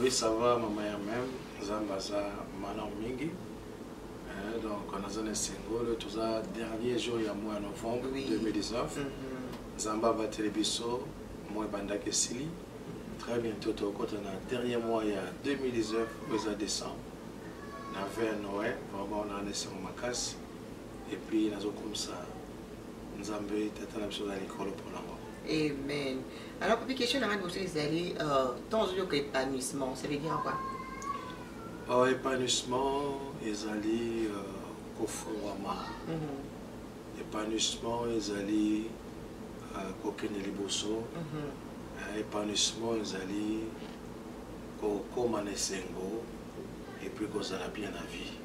Oui, ça va, maman ya même. Nzambe aza malamu mingi. Eh, donc, on a zone singolo, tout ça, dernier jour ya mois novembre Oui. 2019. Mhm. Nzambe abateli biso, mois ebandaki esili. Très bientôt, tokota na dernier mois ya 2019, oyo eza décembre. Na vers Noël, vraiment, on a un esengo makasi. epuis nazokumisa nzambe tata na biso na likolo mpo na ngo amen alors papi question na nga liboso ezali euh, temps ozoyoka épanouissement ça veut dire quoi oh, épanouissement ezali euh, kofungwama mhm. épanouissement ezali euh, kokende liboso mhm. épanouissement ezali kokóma na esengo epuis kozala bien na vie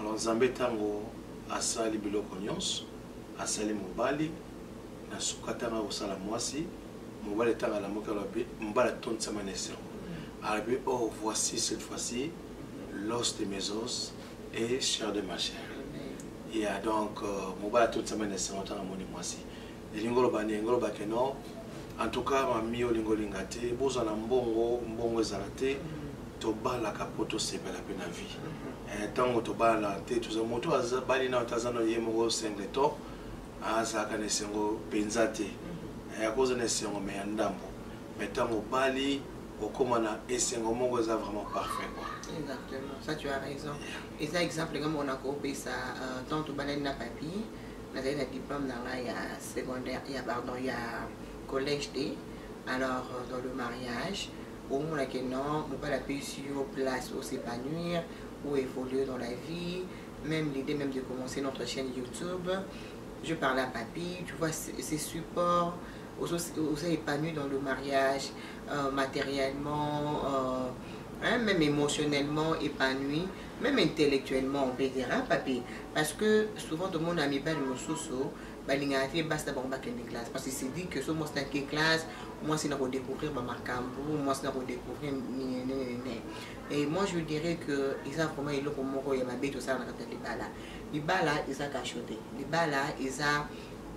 Alors Nzambe tango asali biloko nyonso, asali mobali, na suka tanga kosala mwasi, mobali tanga la moka lobi, mbala tontisa ma nesero. Arabi, oh, voici cette fois-ci l'os de mes os et chair de ma chair. Ya donc, euh, mobali tontisa ma nesero tanga moni mwasi. elingi oloba nini elingi oloba ke non en tout cas mami olingi olinga te bozwa na mbongo mbongo ezala te tobalaka mpo tosepela mpe na vie ntango eh, tobalana te toza moto abali nao te aza na ye moko sengle to azalaka na esengo mpenza te eh, akozwa na esengo me ya ndambo me ntango obali okoma na esengo moko eza vraiment parfait quoi exactement ça tu as raison eza exemple nga moko nakopesa euh, ntango tobalani na papie nazali na diplôme na ngai ya secondaire ya pardon ya collège te alors euh, dans le mariage omona ke non mobali apesi yo place o s'épanouir ou évoluer dans la vie même l'idée même de commencer notre chaîne youtube je parle à papy tu vois ces supports oza épanoui dans le mariage euh, matériellement euh, hein, même émotionnellement épanoui meme intellectuellement on peut dire hein, papi parce que souvent tomona mibali mosusu balingaka te basi na bango bakende classe parce que se dit que so mwasi nake classe mwasi na kodécouvrir bamakambo mwasi na kodécouvrir ninenene et moi je dirais que eza vraiment eloko moko ya mabe tosala na kati ya libala libala eza kasho te libala eza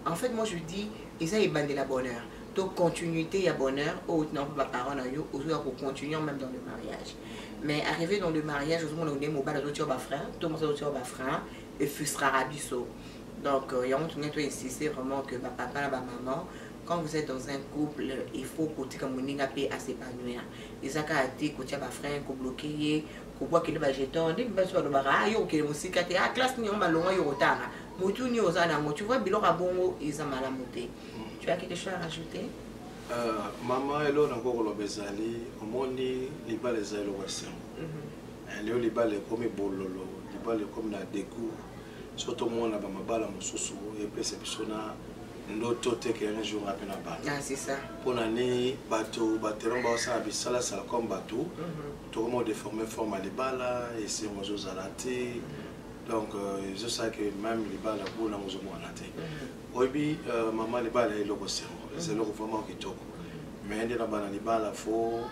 en fait moi je dis eza ebandela bonheur to continuité ya bonheur oyo otina mpo baparent na yo ozoya kocontinue même dans le mariage mais arrivé dans le mariage ozomona ode mobali azotia ba frein to mosi azotia ba frein efrustraka biso donc euh, yango tongei toinsiste vraiment que bapapa na bamaman quand vous êtes dans un couple il faut kotika moninga mpe asepanouir eza kaka te kotia bafrein kobloke ye kobwakele bajeton nde bibaso balobaka a ah, yo kokende mosika te a ah, classe nini yango malonga yo kotanga motu nini oza na yango tu vois biloko ya bongo eza malamu te tu as quelque chose à rajouter Euh, mama elo na ko koloba ezali omoni libala ezali eloko ya sembo mhm. eh, leo libala ekomi bololo libala ekomi na decour so tomona bamabala mosusu epesa biso na ndoto te ke un jour ape na bana ah, mpo na nini bato batelango baosala bisalasala comme bato mhm. tokoma odeforme forme ya libala esengo ezozala te donc euh, ezosala ke meme libala bonango ozomona te mhm. oyebi euh, mama libala eloko sengo eza eloko vraiment kitoko me nde na bana libala fo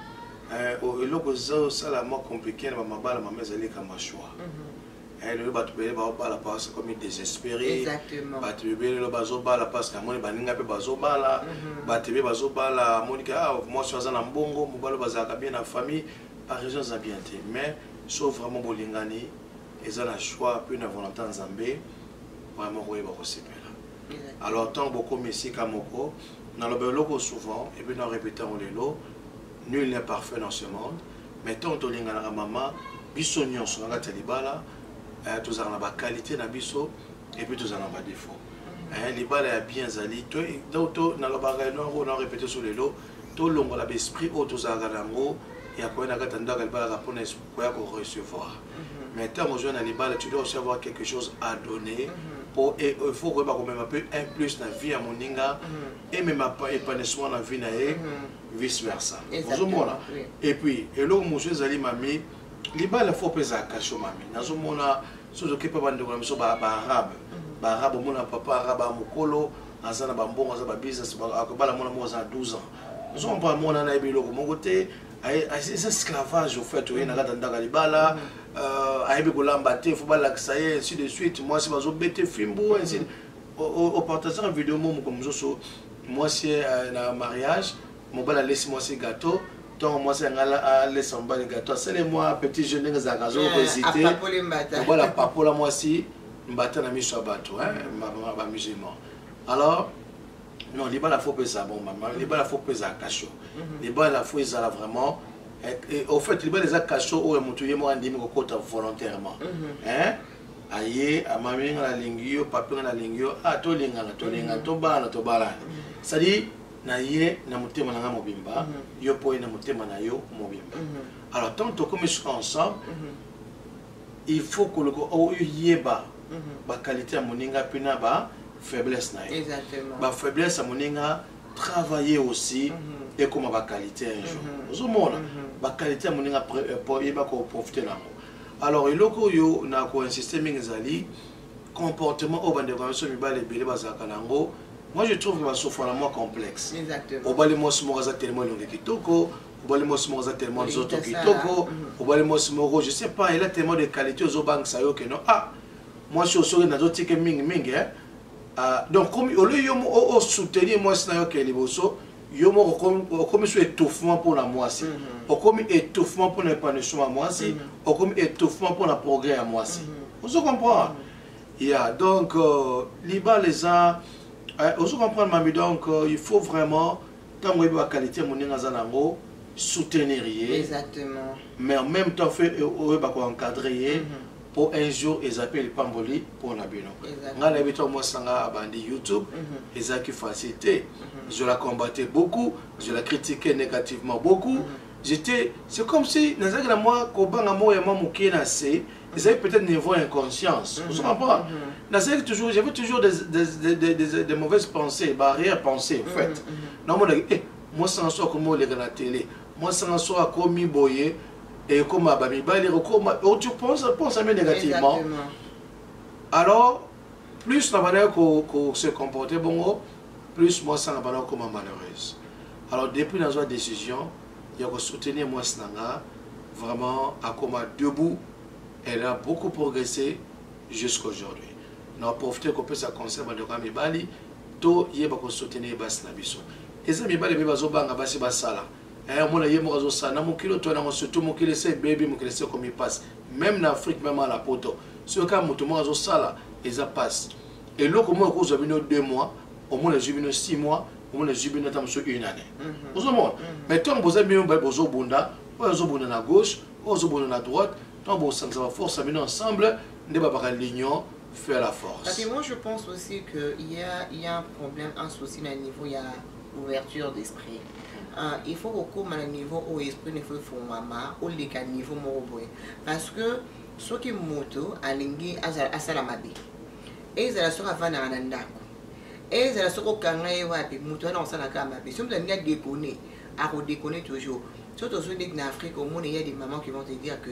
euh, eloko ezosala mwa compliqué na bamabala mama ezali kama choix mhm. eh, lelo bato ebele baobala parce komi désespéré bato ebele lelo bazobala parce que amoni baninga mpe bazobala mhm. bato ebe bazobala amoni ke ah, mwasi aza na mbongo mobali bazalaka bien na famille baraison eza bien te mais so vraiment bolingani eza na choix mpe na volonté ya nzambe vraiment koyeba kosepela alors ntango bokomi esika moko naloba eloko souvent epuis na répéte yango lelo nul n'est parfait dans ce monde mais ntango tolinganaka mama biso nyonso na kati ya libala eh, tozalaka na baqualité na biso epuis tozala na badefo eh, libala ya bien ezali nalobaka yango na répéte so lelo tolongola baesprit oyo tozalaka na yango ya koya na kati ya ndako ya libala kapona esprit oya ko recevoir mais ntango ozwa na libala tu dois aussi avoir quelque chose à donner po il faut koyeba komema mpe un plus na vie ya moninga emema épanouissement na vie na ye vice versa ozomona et puis eloko mosusu ezali mami libala fo mpe ezala kasho mami nazomona soki oke mpe bandeko na biso baarabe baarabe omona papa arabe ya mokolo aza na bambongo aza babusiness akobala mwana moko aza na 12 ans ozomona mpo amona na ye biloko moko te eza esclavage au fait oye na kati ya ndaka libala euh, ayebi kolamba te fo balakisa ye ainsi de suite mwasi bazobete fimbu ainsi opartageaka video mo mokolo mosusu mwasi euh, na mariage mobali alesi mwasi gâteau ntongo mwasi yango alesa mobali gâteau asali mwa petit jeu ndenge ezalaka azokohésite eh, mobali apapola mwasi mbata na miso ya bato bamusulman alors non libala fo mpe eza bon mama libala fo mpe ezala kasho mhm. libala fo ezala vraiment eh, eh, au fait libala eza kasho oyo motu ye moko andimi kokota volontairement mhm. aye amami nga nalingi yo papi nga nalingi yo a ah, tolingana tolingana mhm. tobalana tobalana cestadire na ye na motema na nga mobimba yo mpo ye na motema na yo mobimba alors ntango tokomi soki ensemble il faut koluka oyeba oh, mhm. ba qualité ya moninga pe na ba faiblesse na ye ba faiblesse ya moninga travailler aussi mhm. ekoma ba qualité un jour mhm. ozomona ba qualité ya moninga euh, yeba ko profiter nango alors eloko oyo na ko insister mingi ezali comportement oyo bandeko na biso mibale ebele bazalaka na yango moi je trouve basofana mwa complexe obali mwasi moko aza telema elongi kitoko obali mwasi moko aza tellement nzoto kitoko mm. obali mwasi moko je sais pas ela tellement de qualité ozobangisa yo keno ah mwasi oyo soki nazotike mingi mingi eh? ah, donc komi olio yo osoutenir mwasi na yo ke liboso yo moko okomi so étouffement mpo na mwasi mm-hmm. okomi étouffement mpo na épanouissement ya mwasi mm-hmm. okomi étouffement mpo na progrès ya mwasi mm-hmm. ozo comprendre ya donc euh, libala eza eh, ozo comprendre mami donc euh, il faut vraiment ntango oyebi bakalite ya moninga aza na yango soutenir ye exactement mais en même temps fe eh, oyeba koencadre ye mpo mhm. un jour eza mpe lipamboli mpo na bino ngai nayebi ntango mwasi na ngai abandi youtube mhm. ezalaki facile te mhm. je la combattais beaucoup je la critiquais négativement beaucoup j'étais c'est comme si nazalaki na mwa kobanga moko ya mwa moke na se ezalaki peut-être niveau ya inconscience mhm. osomapora mhm. nazalaki toujours j'avais toujours des, des, des, des, des, des mauvaises pensées barrière pensée en fait mhm, namonaki e eh, mwasi na so akomi oleka na tele mwasi na so akomi boye ekoma bamibali ekokoma oh, tu pense pense ame négativement alors plus na bandaki se comporter bongo plus mwasi na bandaki okoma malheureuse alors depuis nazwa décision ya ko soutenir mwasi na nga vraiment akoma debout elle a beaucoup progressé jusqu'aujourd'hui na profite kopesa conseil bandeko ya mibali toyeba kosoutenir basi na biso eza mibali mpe bazobanga basi basala eh, omona ye moko azosala na mokili oto nango surtout mokili se ebebi mokili se ekomi mpasi meme na afrique meme ala poto soki kaka moto moko azosala eza mpasi eloko moko ekozwa bino deux mois omona ezwi bino 6 mois omona ezwi bino ata mosusu une année mhm. ozomona mhm. mais ntango boza bino baye bozobunda oyo azobunda na gauche oyo azobunda na droite ntango bosangisa baforce ya bino ensemble nde babaka l'union fait la force Parce que moi je pense aussi qu'il y a, y a un problème un souci na niveau ya ouverture d'esprit Uh, il faut kokóma na niveau oyo esprit nefo efungwama oleka niveau moko boye parce que soki moto alingi asala mabe ezala soki afandaka na ndako ezala soki okanga ye wapi moto wana akosala kaka mabe soki moto alingi adekone akodekone toujours so tozwi ndeti na afrique omoni ya des mamans qui vont te dire que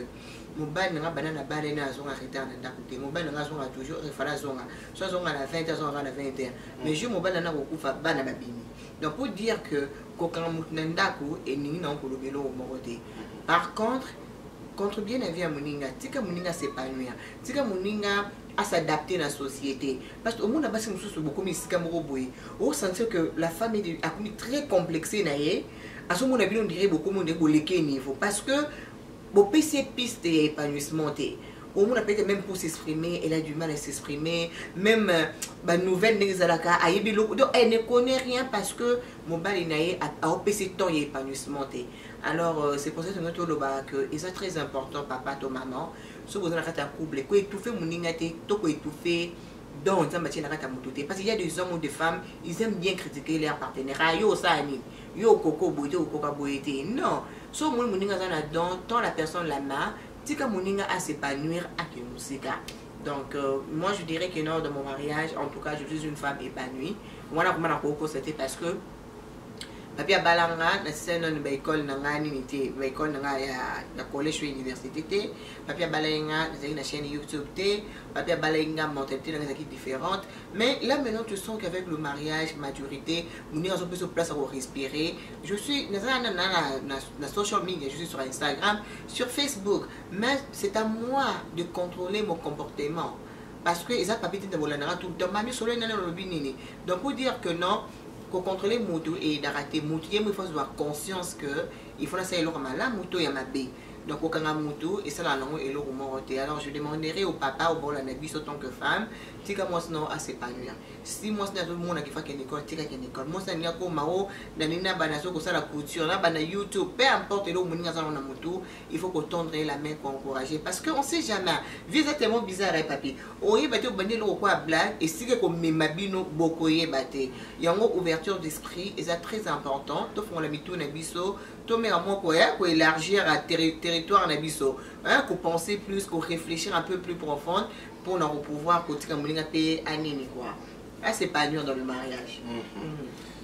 mobali nanga bana na bana ena azonga retard na ndako te mobali nanga azonga toujours efala azonga so azonga na 20 azonga kaka na 21 mais jour mobali nanga kokufa bana babimi donc pour dire que kokanga moto na ndako elingi nango koloba eloko moko te par contre contribue na vie ya moninga tika moninga s'épanouir tika moninga à s'adapter na société parce que omona basi mosusu bokomi esika moko boye osentir que la femme akomi très complexé na ye azomona bino ndire bokomi nde boleke niveau parce que bopesi ye piste ya épanouissement te omona peut-être même pour s'exprimer elle a du mal à s'exprimer même euh, ba nouvelle ndenge ezalaka ayebi eloko donc elle ne connaît rien parce que mobali na ye aopesi temps ya épanouissement te alors euh, c'est pour ça que toloba que eza très important papa to maman soki boza na kati ya couple ko étouffe moninga te to ko étouffe don nzambe atie na kati ya moto te parce qu'il y a des hommes ou des femmes ils aiment bien critiquer leur partenaire ah yo osala nini yo okoko boye te okoka boye te non so omoni moninga aza na don tant la personne la ma tika moninga a s'épanouir ake mosika donc euh, moi je dirais que non dans mon mariage en tout cas je suis une femme épanouie wana komana kokosa te parce que papi abala nga nasila nanu baekole na nga nini te baekole na nga ya collège to université te papi abala ye nga nazalaki na chaîne youtube te papi abala ye nga mentalité na nga ezalaki différente mais là maintenant tu sens qu'avec le mariage maturité moninga azopesa place ya korespirer je suis nazala na, na, na, na social media je suis sur instagram sur facebook mais c'est à moi de contrôler mon comportement parce que eza papi tete bolandaka tout le temps mami solo enani olobi nini donc pour dire que non ko contrôler mutu eyedaka te mutu ye mo ifo azwa conscience que il faut nasala eloko malamu to ya mabe donc kokanga mutu esalaka nango eloko moko te alors je demanderai au papa obolanda biso tant que femme tika mwasi nao asepanuya si mwasi na azomona kifa kende ekole tika kende ekole mwasi nalingi akoma o nani na bana azoki kosala couture na bana youtube peu importe eloko moninga aza nango na motu il faut ko tendre ye la main ko encourager parce que on sait jamais vie eza tellement bizarre ye papi oyeba te obandi eloko kwa blague esika ekomema bino bokoyeba te yango ouverture d'esprit eza très important tofongola mitu na biso tomeka mwa koya koélargir terri territoire na biso kopenser plus koréfléchir un peu plus profonde mpo na kopouvoir kotika moninga mpe anini kua asepanir dans le mariage mm -hmm. Mm -hmm.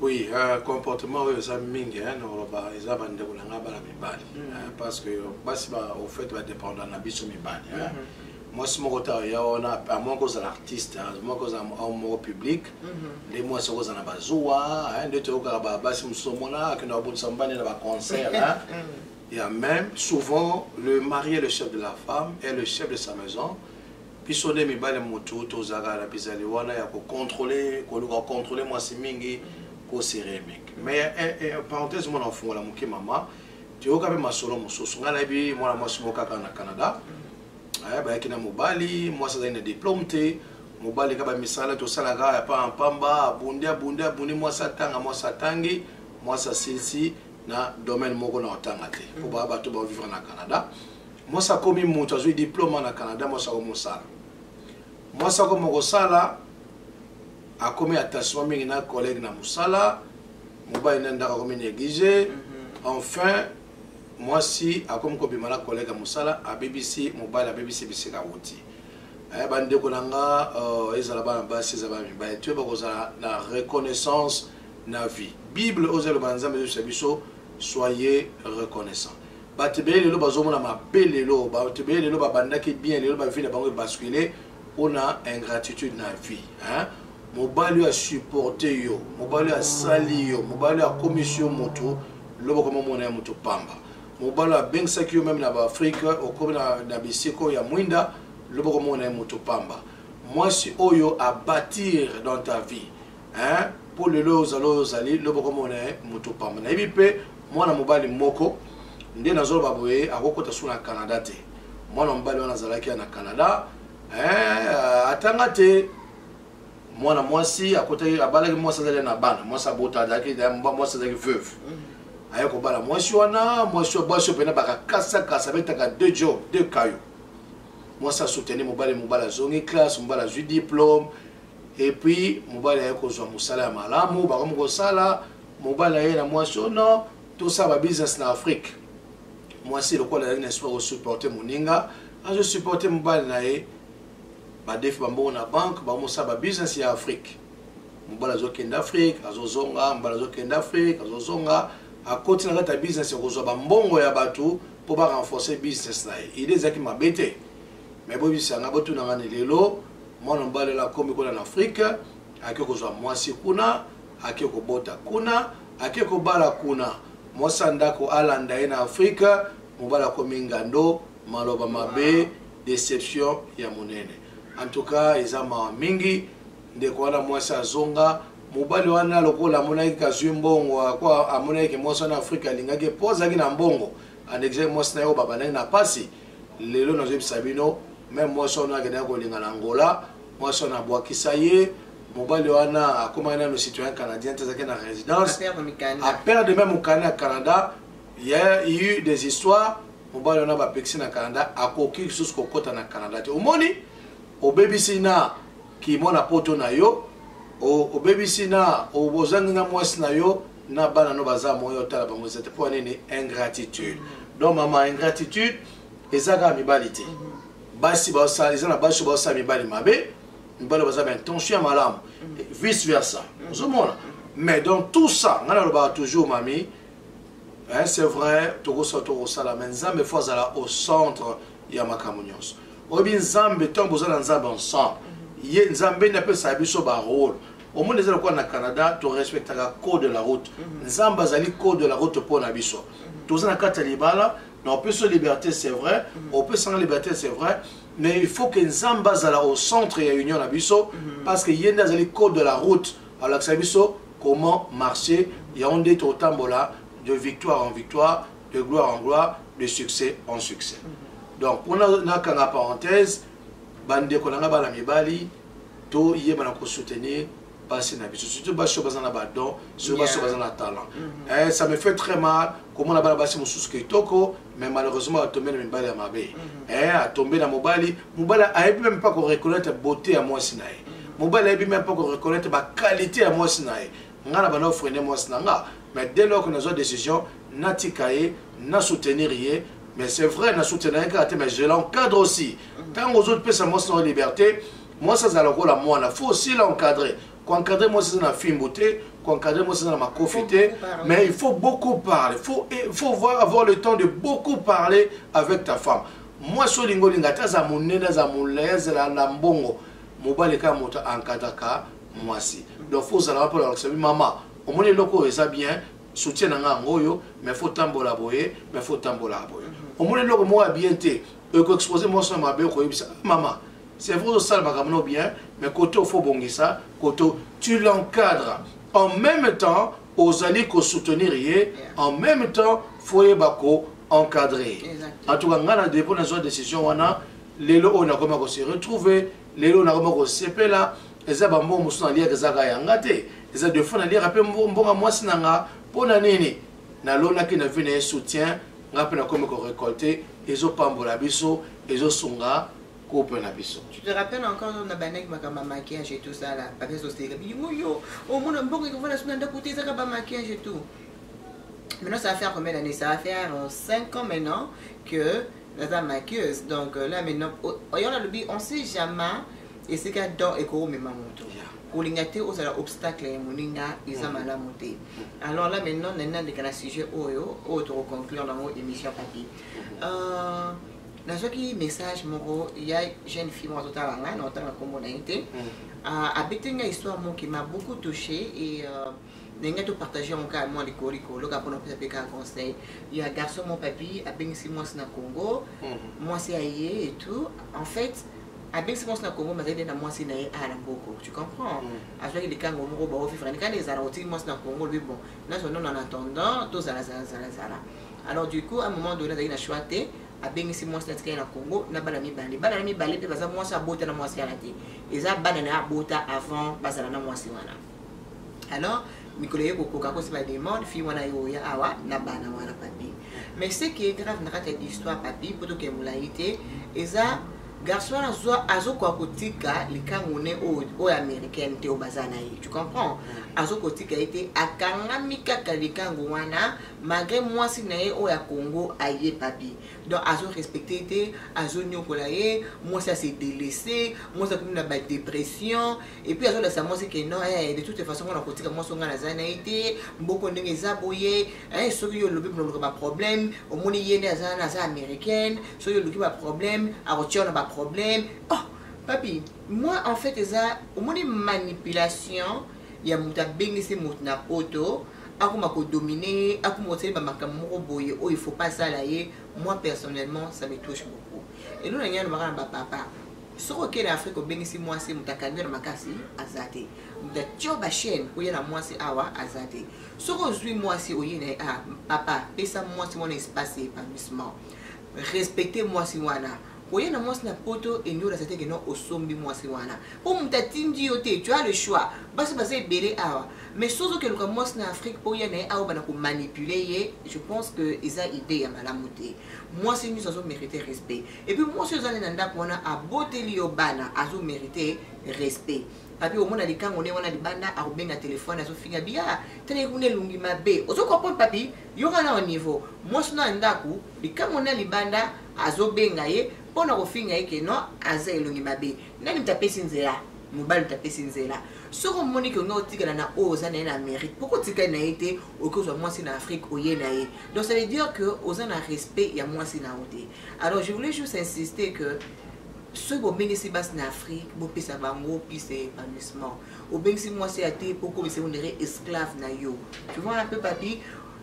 Oui, euh, comportement oyo eza mingi hein, nakoloba eza bandeko na ngai bana mibali mm -hmm. hein, parce que basi ba, au fait badépendant na biso mibali hein. mm -hmm. mwasi moko ta ya wana amoi kozala artiste amoi kozala moko public mm-hmm. nde mwasi okozala na bazuwa nde toyokaka basi mosusu omona akenda kobundisa mobali na baconcert mm-hmm. ya même souvent le mari est le chef de la femme et le chef de sa maison Biso nde mibali mutu tozalaka na bizali wana ya ko controle koluka controle mwasi mingi ko se remake mais eh, eh, parenthèse mwana ofungola moke mama toyoka mpe masolo mosusu ngai nayebi mwana mwasi moko kaka na canada eh, bayaki na mobali mwasi azali na diplome te mobali kaka bamisala tosalaka epa mpamba abundi abundi abundi mwasi atanga mwasi atangi mwasi asilisi na domaine moko na otanga te mpo baa bato baovivre na canada mwasi akomi moto azwi diploma na canada mwasi akomi mosala mwasi akomi kosala akomi attachement mingi na collègue na mosala mobali na ndako akomi néglige mhm. enfin mwasi akomi kobima na collègue ya mosala abebisi mobali abebisi bisika wuti eh, bandeko na nga oh, ezala bana basi ezala bana mibali toyeba kozala na reconnaissance na vie bible oyo ezaloba na nzambe ezobisa biso soyez reconnaissant bato ebele lelo bazomona mabe lelo bato ebele lelo babandaki bien lelo bavie na bango ebascule mpo na ingratitude na vie hein? mobali oyo asupporte yo mobali oyo asali yo mobali oyo akomisi yo moto lobo koma omona ya moto pamba mobali oyo abengisaki yo meme na baafrike okomi na, na bisika oyo ya mwinda lobo koma omona ya moto pamba mwasi oyo abatir dans ta vie hein po lelo ozali oyo ozali lobo komona ye moto pamba nayebi mpe mwana mobali moko nde nazoloba boye akokota su na canada te mwana mobali wana azalaki ya na canada eh, atanga te mwana mwasi akotaki abalaki mwasi azali na bana mwasi abota azalaki mwasi azalaki veuve mm. aye kobala mwasi wana mwasi bwasi oyo mpena bakakasakasa betaka deux job deux kayo mwasi asoutenir mobali mobali azongi classe mobali azwi diplome et puis mobali aye kozwa mosala ya malamu bakomi kosala mobali aye na mwasi o oh non tosala ba business na afrique mwasi lokola azali na espoir kosupporte moninga azosupporte mobali na ye badefi bambongo na banke bamosala ba business ya afrique mobali azokende afrique azozonga mobali azokende afrique azozonga akoti na kati ya business ya kozwa bambongo ya bato mpo ba renforcer business na ye ide ezalaki mabe te mais boyebisa nga botuna ngani lelo mwana mobali oyo akomi kuna na afrike ake kozwa mwasi kuna ake kobota kuna ake kobala kuna mwasi ya ndako alanda ye na afrike mobali akomi ngando maloba mabe deception ya monene en tout cas eza mawa mingi ndeko wana mwasi azonga mobali wana lokola amonaki kazwi mbongo amonaki ke mwasi wana afrike alingaki mpo azalaki na mbongo andekisaki mwasi na ye oyo babandaki na mpasi lelo nazobisa bino meme mwasi wana akendaki kolinga na angola mwasi wana abwakisa ye mobali wana akomaki nano citoyen canadien te azalaki na résidence aperde meme mokanda ya canada ya eu des histoires mobali wana bapekisi na canada akoki lisusu kokɔta na canada te omoni obebisi na kimona poto na yo obebisi na ozangi na mwasi na yo na bana no baza moyen otala bango eza te mpo ya nini ingratitude mm. donc mama ingratitude eza kaka mibali te mm-hmm. basi baosala eza na basi baosala mibali mabe mibali baza ba intention ya malamu mm. vice versa mm. ozomona mais donc tout ça ngai nalobaka toujours mami hein, c'est vrai tokosala tokosala mais nzambe fo azala au centre ya makambo nyonso oyebi nzambe ntango boza na nzambe ensemble mm-hmm. ye nzambe nde apesaka biso barole omoni eza lokola na canada torespectaka code de la route mhm. nzambe azali code de la route mpo na biso mhm. toza na kati ya libala na opesi yo liberté c'est vrai mhm. opesanga liberté c'est vrai mais il faut que nzambe azala au centre ya union na biso parce que ye nde azali code de la route alakisa biso comment marcher yango nde totambola de victoire en victoire de gloire en gloire de succès en succès donc mpona nakanga parenthèse bandeko na ngai bana mibali to yeba na ko soutenir basi na biso surtout basi oyo baza na badon soki basi oyo baza na talent mm-hmm. eh, ça me fait très mal komona bana basi mosusu kitoko mais malheureusement atombe na mibali ya mabe mm-hmm. eh, atombe na mobali mobali ayebi meme pas koreconnaitre beauté ya mwasi na ye mm-hmm. mobali ayebi meme pas koreconnaitre baqualité ya mwasi na ye nga na banda ofrene mwasi na nga mais dès lors que nazwa décision natika ye na soutenir ye mais c'est vrai na soutenir ye kaka te mais je l'encadre aussi ntango ozopesa mwasi na yo liberté mwasi azala lokola mwana faut aussi l'encadrer koencadre mwasi eza na fimbu te koencadre mwasi eza na makofi te mais il faut beaucoup parler faut, eh, faut voir avoir le temps de beaucoup parler avec ta femme mwasi olingi olinga ata aza monene aza molai azala na mbongo mobali kaka moto aencadraka mwasi donc fo ozalaka mpo nalakisa bi mama omoni eloko oyo eza bien soutien na ngai yango oyo mais fo tambola boye mais fo tambolaka boye mhm. omoni eloko moko ya bien te ekoexpose mwasi na mabe okoyebisa ah, mama c'est vrai ozosala makambo no bien mais kote ofo obongisa kote tu l'encadre en même temps ozali kosoutenir ye en même temps fo yeba ko encadrer en tout cas ngai na depo nazwa décision wana lelo oyo nakoma kose retrouver lelo nakoma kosepela eza bambongo mosusu naliaka eza kaka ya nga te eza de fois naliaka mpe mbonga mwasi na nga mpo na nini nalonaki na vie na ye soutien nga mpe nakomi korecolte ezopambola biso ezosunga couple na biso tu te rappelles encore na bandaki makambo ya maquillage et tout ça là papa ezoseka bilingo yo omona mbongo ekofana suna ndako te ezaka ba maquillage et tout maintenant ça va faire combien d'années ça va faire 5 euh, ans maintenant que naza maquilleuse donc euh, là maintenant oyo oh, oh, nalobi on sait jamais esika don ekomema moto kolinga te ozala obstacle ya moninga eza mm. malamu te mm. alors là maintenant nani nandeka na sujet oyo oyo tokoconclure nango émission papi mm. euh, nazwaki message moko ya jeune fille moko azotala ngai na otanga nkombo na ye te euh, abeti ngai histoire moko qui m'a beaucoup touché et euh, ndenge topartage yango kaka mwa likolo likolo kaka mpona opesa mpe kaka conseil ya garçon mon papi abengisi mwasi na congo mwasi aye et tout en fait abengisi mwasi na congo mazali nde na mwasi na ye awa na mboko tu comprends mm. azwaki likango moko baovivre nikani ezala otiki mwasi na congo lobi bon nazwa nono na attendant tozala zalazalazala alors du coup à moment donné azalaki na choix te abengisi mwasi na tikali na congo na bana mibale bana na mibale mpe baza mwasi abota na mwasi wana te eza bana na ye abota avant bazala na mwasi wana alors mikolo ye kokoka kosi bademande fille wana ye oya awa na bana wana papi mais ce qui est grave na kati ya histoire papi mpo tokee molai te eza garçon wana azokoka kotika likangu ne oyo américaine te oyo baza na ye tu comprends azoki kotika ye te akangami kaka likangu wana malgré mwasi na ye oyo ya congo aye papi donc azorespecte ye te azoniokola ye mwasi ase delese mwasi akomi na badépression et puis azolakisa mwasi ke non eh, de toute façon ngana kotika mwasi onga naza na ye te mboko ndenge eza boye eh, soki yo olobi oloka baproblème omoni ye nde aza na aza américaine soki oluki baproblème akotia yo na baproblème oh papi moi en fait eza omoni manipulation ya moto abengisi moto na poto akoma kodomine ye akoma kosali bamakambo moko boye oyo il faut pas asala ye moi personnellement ça me touche beaucoup elona ngai alobaka na bapapa soki okei na afrika obengisi mwasi moto akangi na makasi aza te moto atio bachaine oye na mwasi awa aza te soki ozwi mwasi oye na ye ah, papa pesa mwasi wana espace ya épanouissement respecte mwasi wana oye na mwasi na poto eniola zateke no osombi mwasi wana mpo moto atindi yo te tu as le choix basi baza ebele awa mais soki ozokeluka mwasi na afrique mpo oya na ye awa bana komanipule ye je pense que eza idée ya malamu te mwasi nyonso azomérite respect et puis mwasi oyo ezali na ndako wana aboteli yo bana azo merite respect papi omona likango nde wana libanda akobenga telefone azofinga bia ah, tala kuna elongi mabe ozo comprendre papi yoka na niveau mwasi na ndako likango na libanda azobenga ye mpo na kofinga ye ke non aza elongi mabe nani moto apesi nzela mobali moto apesi nzela soki omoni ke olingi otikala na oyo oza na ye na amérique mpo kotikali na ye te okozwa mwasi na afrique oye na ye donc ça veut dire que oza na respect ya mwasi na yo te Alors je voulais juste insister que soki bobengisi basi na afrique bopesa bango piste ya épanouissement obengisi mwasi ya te mpo okomisa onere esclave na yo tu vois un peu papi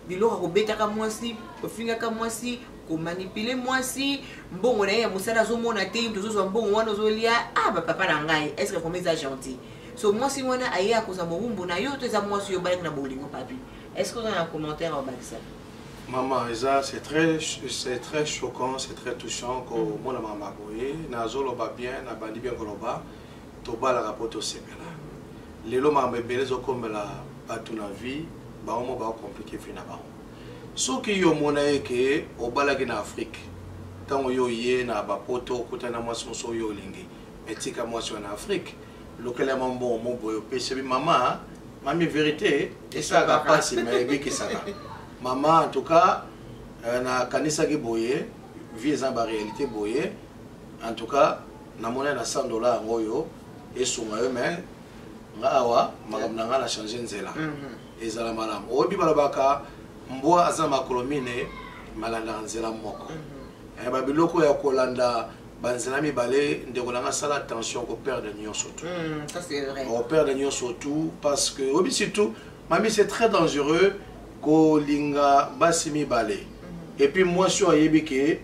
biloko akobetaka mwasi ofingaka mwasi komanipule mwasi mbongo na ye ya mosala azomona te tozozwa mbongo wana ozolia ah bapapa na ngai estce koma eza gentil so mwasi wana aye akozwa mowumbu na yo to eza mwasi oyo obalaki na bolingo papi estce oza na commentaire obakisa Maman, c'est très, c'est très choquant, c'est très touchant que mm. mon maman a boyé, na zolo ba bien, na bandi bien koloba, to ba la rapport au sepela. Lelo ma mbele zo comme la batu na vie, ba omo ba compliqué fina ba. Ce qui yo mona e que au balagi na Afrique, tant yo yé na ba poto, kutana moi son so yo lingi, mais tika moi sur en Afrique. lokela mwa mbongo mo boye opesi bi mama mami verité esalaka mpasi ma ebikisaka mama en tout cas euh, nakanisaki boye vie eza baréalité boye en tout cas namona na 100 dollar yango oyo esunga yo mai nga awa makambo na ngai na change nzela mhm. ezala malamu oyebi balobaka mbwa aza na makolo mine malandaka nzela moko mhm. eh, babiloko ya kolanda banzela mibale ndeko na nga sala attention ko perdre nyonso tout hmm, o perdre nyonso tout parce que oyebi surtout mami c'est très dangereux kolinga basi mibale hmm. et puis mwasi oyo ayebi ke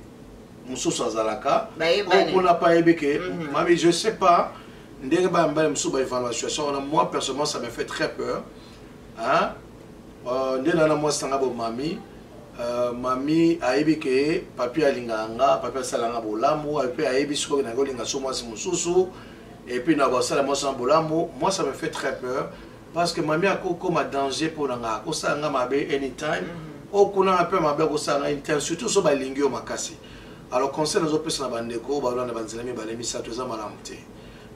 mosusu azalaka oyo kuna pa ayebi ke hmm. mami je sais pas ndenge bayambali mosusu baévaluation wana moi personnellement ça me fait très peur hein? Euh, nde na na mwasi na nga bo mami euh, mami ayebi ke papi alingaka nga papi asala nga bolamu epuis ayebi sikoyo nake olinga so mwasi mosusu epuis na basala mwasi na bolamu moi ça me fait très peur parce que mami akokoma danger mpo na nga akosala nga mabe anytime mhm. okunanga mpe mabe akosala nga anytime surtout so balingi yo makasi alors conseil nazopesa na bandeko balanda banzela mibale misato eza malamu te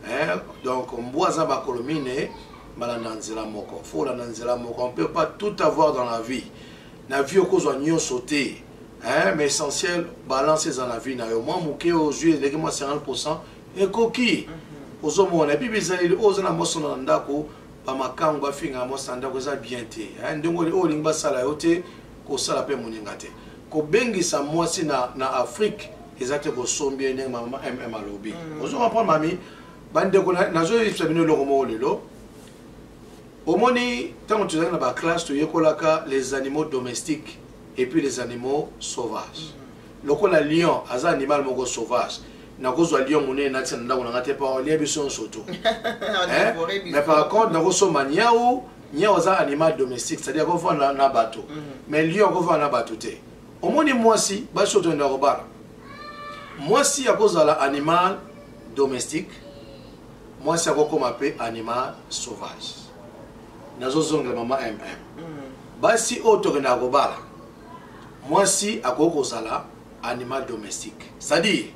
eh, donc mbwa aza makolo mine balanda nzela moko fo olanda nzela moko on peut pas tout avoir dans la vie na vie okozwa nyonso te eh, mais essentiel balance eza na vie na yo mwa moke ozwi eleki mwa 50 pourcent ekoki mhm. ozomona epi bizaleli oyo oza na mosona na ndako bamakango bafinga mosana ndako eza bien te eh, ndenge oyo olingi basala yo te kosala pe muninga te kobengisa mwasi na, na afrique eza te kosombi ye ndenge mama mm alobi mm. ozo comprendre mami bandeko nazoyebisa bino eloko moko lelo omoni ntango tozalaki na baklasse toyekolaka les animaux domestiques et puis les animaux sauvages mm. lokola lion aza animal moko sauvage nakozwa lion monene natia na ndako na ngai te mpo alia biso nyonso tu eh? mais par contre nakosomba niau nyau aza animal domestique c'est à dire akovanda na bato mhm. mais lion akovanda na bato te omoni mwasi basi oyo toyenda kobala mwasi akozala animal domestique mwasi akokoma mpe animal sauvage nazozongela mama mm basi oyo tokendaka kobala mwasi akoki kozala animal domestique c'est-à-dire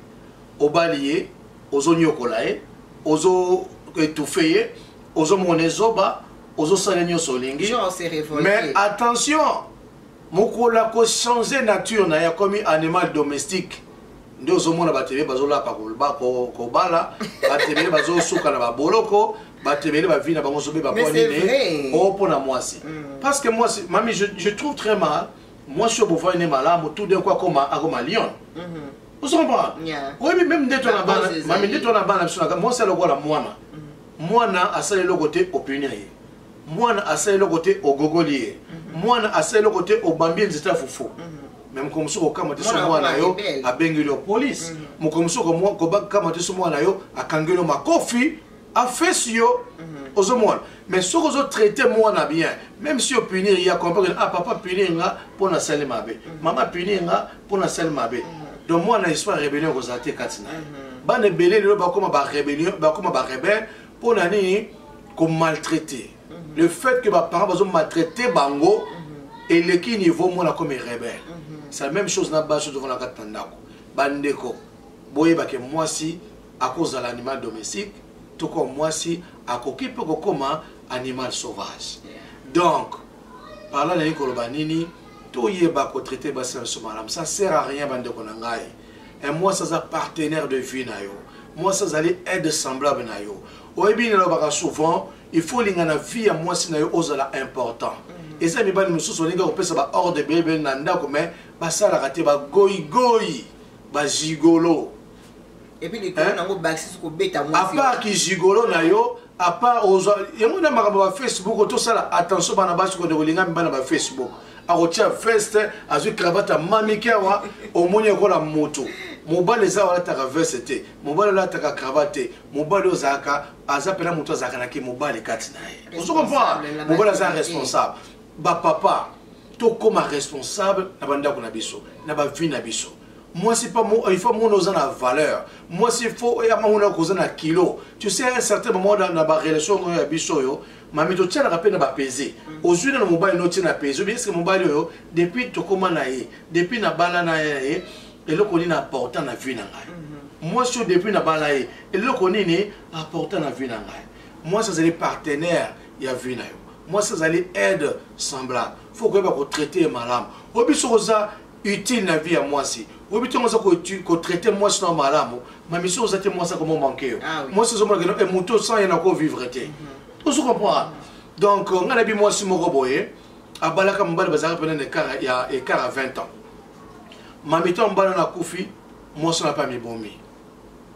obali ye ozonyokola ye ozo etufe ye ozo mona ezoba ozo sala nyonso olingi mais attention mokolo akochange nature na ye akomi animal domestique nde ozomona bato ebele bazolapa kobala bato ebele bazosuka na baboloko bato ebele bavi na bango zobeba mpo nini o oh, mpo na mwasi mm. parce que mwasi mami je, je trouve très mal mwasi oyo bovoi ne malamu tout d'un coup akoma akoma lion mm-hmm. ozo comprendre oyebi meme nde to na bana mami nde to na bana biso na mwasi alokola mwana mm. mwana asala eloko te opini ya ye mwana asala eloko te ogogoli ye mhm. mwana asala eloko te obambi ye nzete ya fufu mhm. me mokolo mosusu kokama te so mwana yo abengeli yo polise mhm. mokolo mosusu kokama te so mwana yo akangeli yo makofi afesi yo ozomona mais soki ozotraite mwana bien même si opunir ye akomprendre ah papa punir nga mpo nasali mabe mama punir nga mpo na sali mabe donc mwana na histoire rébellion ekozala te kati na ye mhm. bana ebele lelo bakoma barébellion bakoma barebelle mpo na nini komaltraite mhm. le fait que baparent bazomaltraite bango mhm. eleki niveau mwana comme rebelle c'est la même chose na basi tofanda kati na ndako bandeko boyebake mwasi akozala animal domestique toko mwasi akoki mpe kokoma animal sauvage donc parla naye koloba nini toyeba ko traiter basi na biso malamu ça sert à rien bandeko na ngai un mwasi aza partenaire de vie na yo mwasi azali aide semblable na yo oyebi nini alobaka souvent il faut olinga na vie ya mwasi na yo ozala important mhm. eza mibali mosusu olingi kopesa baordre bebele na ndako mai basalaka te bagoigoi bajigolo epuis likolo nango bakisi kobeta apart kizigolo na yo apart ozwa yango na makambo ba facebook tosala attention bana basi kode kolinga mibana ba facebook akotia veste azwi cravate amamiki awa omoni ekola motu mobali eza olataka veste te mobali olataka cravate te mobali ozalaka aza mpena motu azalaka na kimobali kati na ye ozo comprendre mobali aza responsable bapapa tokóma responsable na bandako na biso na bavie na biso mwasi pa il faut mona oza na valeur mwasi il faut ya mamona koza na kilo tu sais un certain moment dans na ba relation oyo ya biso oyo mami totianaka mpe na bapese ozwi nano mobali no otie na pese obi eske mobali oyo depuis tokóma na ye depuis nabala na ye na ye eloko nini apporta na vie na ngai mhm. mwasi oyo depuis nabala ye eloko nini apporta na vie na ngai mwasi azali partenaire ya vie na yo mwasi azali aide semblable faut koyeba kotraite ye malamu oyo biso koza utile na vie ya mwasi oyebi ntango oza kotraite mwasi na malamu mamiso oza te mwasi akoma manke yo ah mwasi ozomona keno eh, moto sans ye nako vivre te mhm. ozo comprendre donc euh, ngai nayebi mwasi moko boye abalaka mobali bazalaka mpena ya écart ya 20 ans mamito ya mobali wana akufi mwasi wana mpe amibomi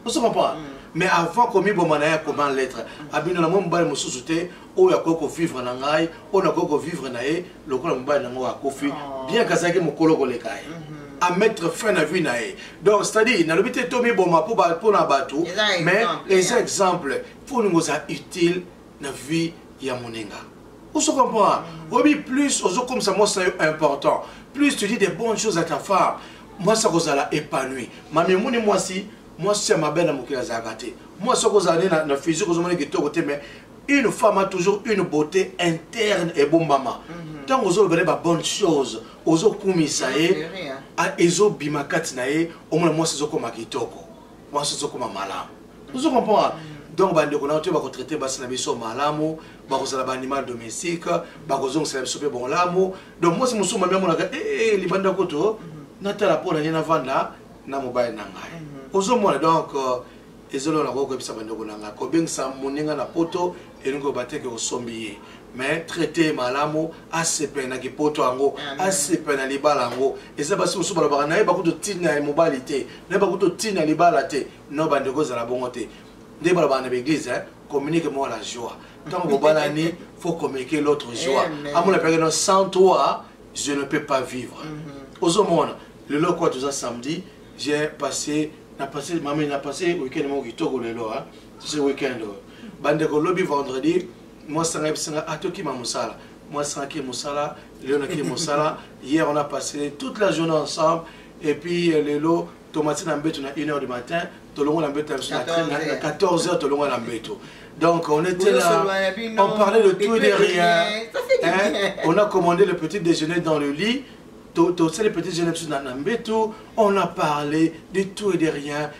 ozo comprendre mm. mais avant komiboma na ye akoma en lettre abino na mwa mobali mosusu te oyo akoki kovivre na ngai oyo nakoki kovivre na ye lokola mobali na ngai akufi oh. bien kazalaki mokolo koleka ye mhm. à mettre fin na vie na ye donc c'est-à-dire nalobi te tomiboma mpo na bato mais eza exemple mpo olingo oza utile na vie ya moninga ozo comprendre mhm. oyebi plus ozokomisa mwasi na yo important plus tu dis des bonnes choses à ta femme mwasi akozala epanui mami omoni mwasi mwasi ya mabe na mokili azalaka te mwasi akozala nde na, na physique ozomona kitoko te mais une femme a toujours une beauté interne ebombama mhm. ntango mm -hmm. ozolobela ye babonne chose ozokumisa ye ezobima kati na ye omona mwasi ezokoma kitoko mwasi ozokoma malamu ozo comprendre donc bandeko na yo te bakotraite basi na biso malamu bakozala baanimal domestique bakozongisela biso mpe bolamu donc mwasi mosusu mami amonaka ee eh, eh, eh, libanda kutu natala mpo na ye navanda na mobali na ngai mhm. ozomona donc euh, ezolona kokoyebisa bandeko na ngai kobengisa moninga na poto elingi oba te ke osombi ye mais traite ye malamu asepele na kipoto yango asepele na libala yango eza basi mosusu balobaka naye bakuti otina ya mobali te naye bakuti otina ya libala te no bandeko ezala bongo te nde balobaka na baeglise eh, communique moi la joie ntango bobalani faut communiquer l'autre joie amona peke no sans toi je ne peux pas vivre mhm. ozomona lelo kwa toza samedi j'ai passé na passé mama na passé week-end moko kitoko lelo hein. ce weekend oyo bandeko lobi vendredi mwasi anga yebisi nga atokima mosala mwasi anga ke mosala lelo nake mosala hier on a passé toute la journée ensemble et puis euh, lelo tomati na mbeto na 1 heure du matin tolongo na mbeto na biso na 14 heures tolongo na mbeto donc on était là on parlait de tout et de rien hein? on a commandé le petit déjeuner dans le lit tosali petit jeune biso na mbeto on a parlé de tout et de rien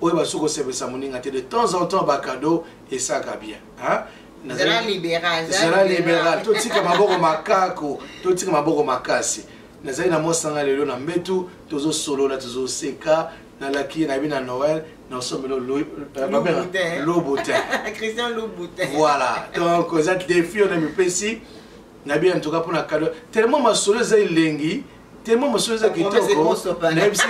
oyeba soki osepelisa moninga te de temps en temps bacado esaka bien zala liberal totika maboko makako totika maboko makasi nazali na mwasanga lelo na mbetu tozosolola tozoseka nalaki nayebi na noel naosomelo lobutin voilà donc eza defi oyo na mipesi nayebi en tout cas mpona kado tellement masolo eza elengi tellement masolo eza kitoko nayebisi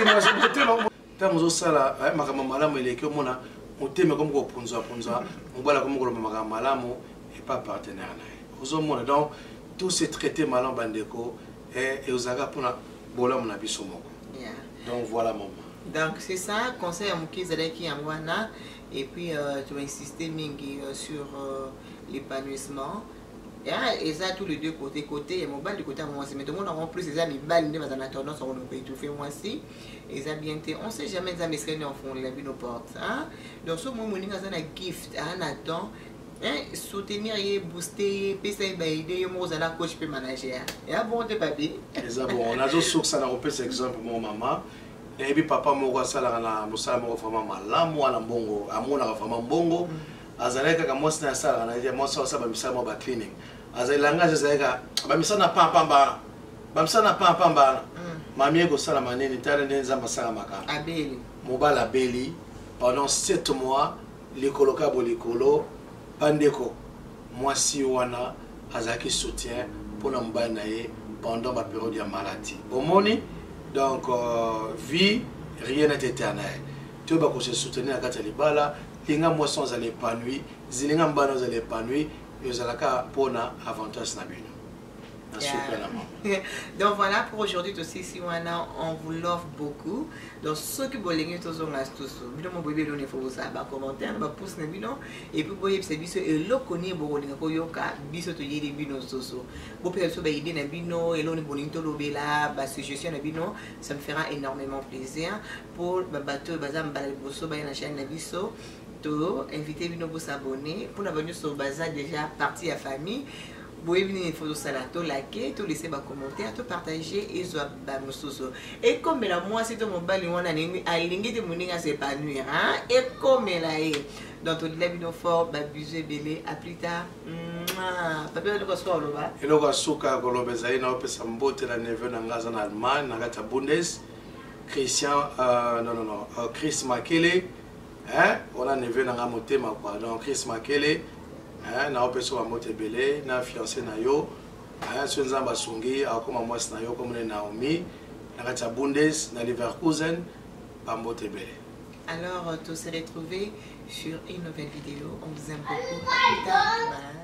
ntango ozosala eh, makambo malamu eleki omona motema ekomi kopunzapunza mobali akomi koloba makambo malamu epa partenaire na ye ozomona donc tout se traite malamu bandeko eh, eozalaka mpona bolamu na biso moko donc voilà mama donc c'est ça conseil ya moke ezalaki yango wana et puis euh, tu insiste mingi euh, sur euh, l'épanouissement ya eza tous les deux côté côté ya mobali côté ya mwasi mais tomona yango plus eza mibali nde baza na tendance ya koloka étouffe mwasi eza bien te on sait jamais nzambe esika nini akofungolela bino porte donc soki moi moninga aza na gift aa na temps soutenir ye booste ye pesa ye baide yo moko ozala coach mpe manager ya bongo te papi eza bongo nazosursa na kopesa exemple moko mama nayebi papa moko asalaka na mosala moko vraiment malamu wana mbongo amonaka vraiment mbongo mm. azalaki kaka mwasi na asalaka na ye mwasi asala bamisala mwa bacleaning azali langage ezali kaka bamisala na pampamba wana bamisala na pampamba wana mm. mami ekosalama nini tala nde nzambe asala makambo mobali abeli pendant 7 mois likolo ka bolikolo bandeko mwasi wana azalaki soutien mpo na mobali na ye pendant baperiode ya maladi bomoni donc euh, vie rien est éternel toyeba kose soutenir na kati ya libala linga mwasi ozala epanui zilinga mbana ozala epanui ezalaka mpona avantage na bino Yeah. donc voilà pour aujourd'hui tosi si wana on vous love beaucoup donc soki bolingi tozonga susu bino mo boyebi eloni fo bosala bacommentaire na bapouce na bino epuis boyebisa biso eloko nini bokolinga koyoka biso toyeli bino susu bopesa biso baide na bino eloni bolingi tolobela basuggestion na bino ça me fera énormément plaisir pour babato oyo baza mbala liboso baye na chaîne na biso to invite bino bosabone mpona banyonso baza déjà partie ya famille boyebi nini fo tosala tolake tolese bacommentaire topartage ezwa bamosusu ekomela mwasi to mobali wana alingi te moninga ase épanouir ekomela ye donc tolela bino fort babizu ebele a plus tard pape eloko asuka koloba eloko asuka ya koloba ezali na opesa mbote na neveu na ngai aza na allemagne na kati ya bundes Christian euh, non non non euh, Chris Makele hein on a neveu na nga motema quoi donc Chris Makele hein na opeso ba mote belé na fiancé na yo hein so nzamba sungi akoma mwasi na yo comme ne Naomi na kati ya Bundes na Leverkusen ba mote belé alors euh, tous se retrouver sur une nouvelle vidéo on vous aime beaucoup plus tard bye.